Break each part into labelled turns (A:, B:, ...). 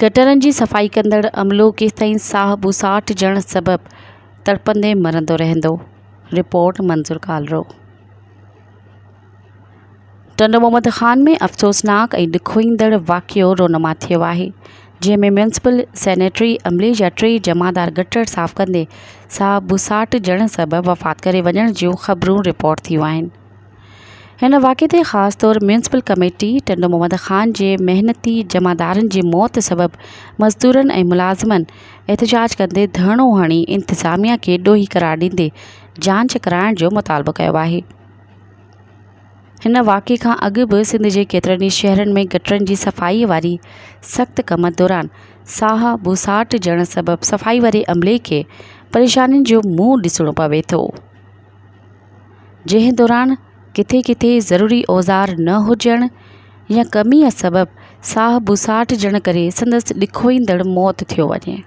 A: گٽرن جي صفائي ڪندڙ عملو ڪيستائين ساهه ٻوساٽ جڻ سبب تڙپندي مرندو رهندو، رپورٽ منظور ڪالرو. ٽنڊو محمد خان ۾ افسوسناڪ ۽ ڏکوئيندڙ واقعو رونما ٿيو آهي، جنهن ۾ ميونسپل سينيٽري عملي جا ٽي جمعدار گٽر صاف ڪندي ساهه ٻوساٽ جڻ سبب وفات ڪري وڃڻ جون خبرون رپورٽ ٿيون آهن. هن واقعي تي خاص طور ميونسپل ڪميٽي ٽنڊو محمد خان جي محنتي جمعدارن جي موت سبب مزدورن ۽ ملازمن احتجاج ڪندي ڌرڻو هڻي انتظاميا کي ڏوهي قرار ڏيندي جانچ ڪرائڻ جو مطالبو ڪيو آهي. هن واقعي کان اڳ به سنڌ جي ڪيترن ئي شهرن ۾ گٽرن جي صفائي واري سخت ڪم دوران ساهه ٻوساٽجڻ سبب صفائي واري عملي کي پريشانين جو منهن ڏسڻو پوي ٿو. جنهن دوران ڪٿي ڪٿي ضروري اوزار نه هجڻ يا ڪميء سبب ساهه ٻوساٽجڻ ڪري سندس ڏکوئيندڙ موت ٿيو وڃي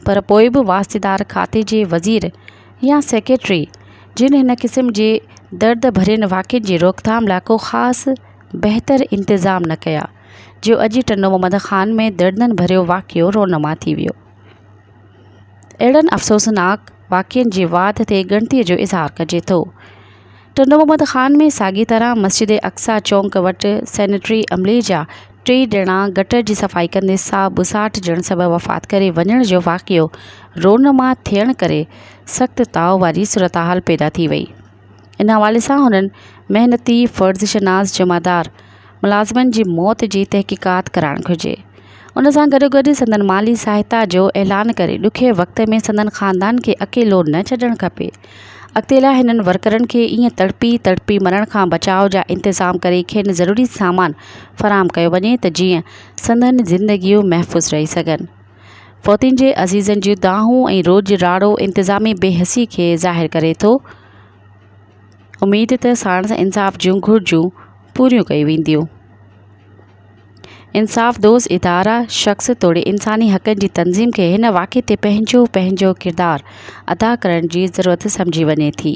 A: پر پوء به واسطيدار کاتي جي وزير يا سيڪريٽري جن هن قسم جي درد ڀرين واقعن جي روڪٿام لاء ڪو خاص بهتر انتظام نه ڪيا جو اڄ ٽنڊو محمد خان ۾ دردن ڀريو واقعو رونما ٿي ويو اهڙن افسوسناڪ واقعن جي واڌ تي ڳڻتي جو اظهار ڪجي ٿو. ٽنڊو محمد خان ۾ ساڳي طرح مسجد اقصيٰ چونڪ وٽ سينيٽري عملي جا ٽي ڄڻا گٽر جي صفائي ڪندي ساهه ٻساٽ جڻ سبب وفات ڪري وڃڻ جو واقعو رونما ٿيڻ ڪري سخت تاء واري صورتحال پيدا ٿي وئي. ان حوالي سان هنن محنتي فرض شناس جمعدار ملازمن جي موت جي تحقيقات ڪرائڻ گهرجي ان سان گڏو گڏ سندن مالي سهائتا جو اعلان ڪري ڏکئي وقت ۾ سندن خاندان کي اڪيلو نه ڇڏڻ کپي اڳتي لاء هنن ورڪرن کي ايئن تڙپي تڙپي مرڻ کان بچاء جا انتظام ڪري کين ضروري سامان فراهم ڪيو وڃي ته جيئن سندن زندگيون محفوظ رهي سگهن. فوتين جي عزيزن جون دانهون ۽ روڄ راڙو انتظامي بي حسي کي ظاهر ڪري ٿو. اميد ته ساڻس انصاف جون گهرجون پوريون ڪيون وينديون. انصاف دوست ادارا، شخص توڙي انساني حقن جي تنظيم کي هن واقعي تي پنهنجو پنهنجو ڪردار ادا ڪرڻ جي ضرورت سمجهي وڃي ٿي.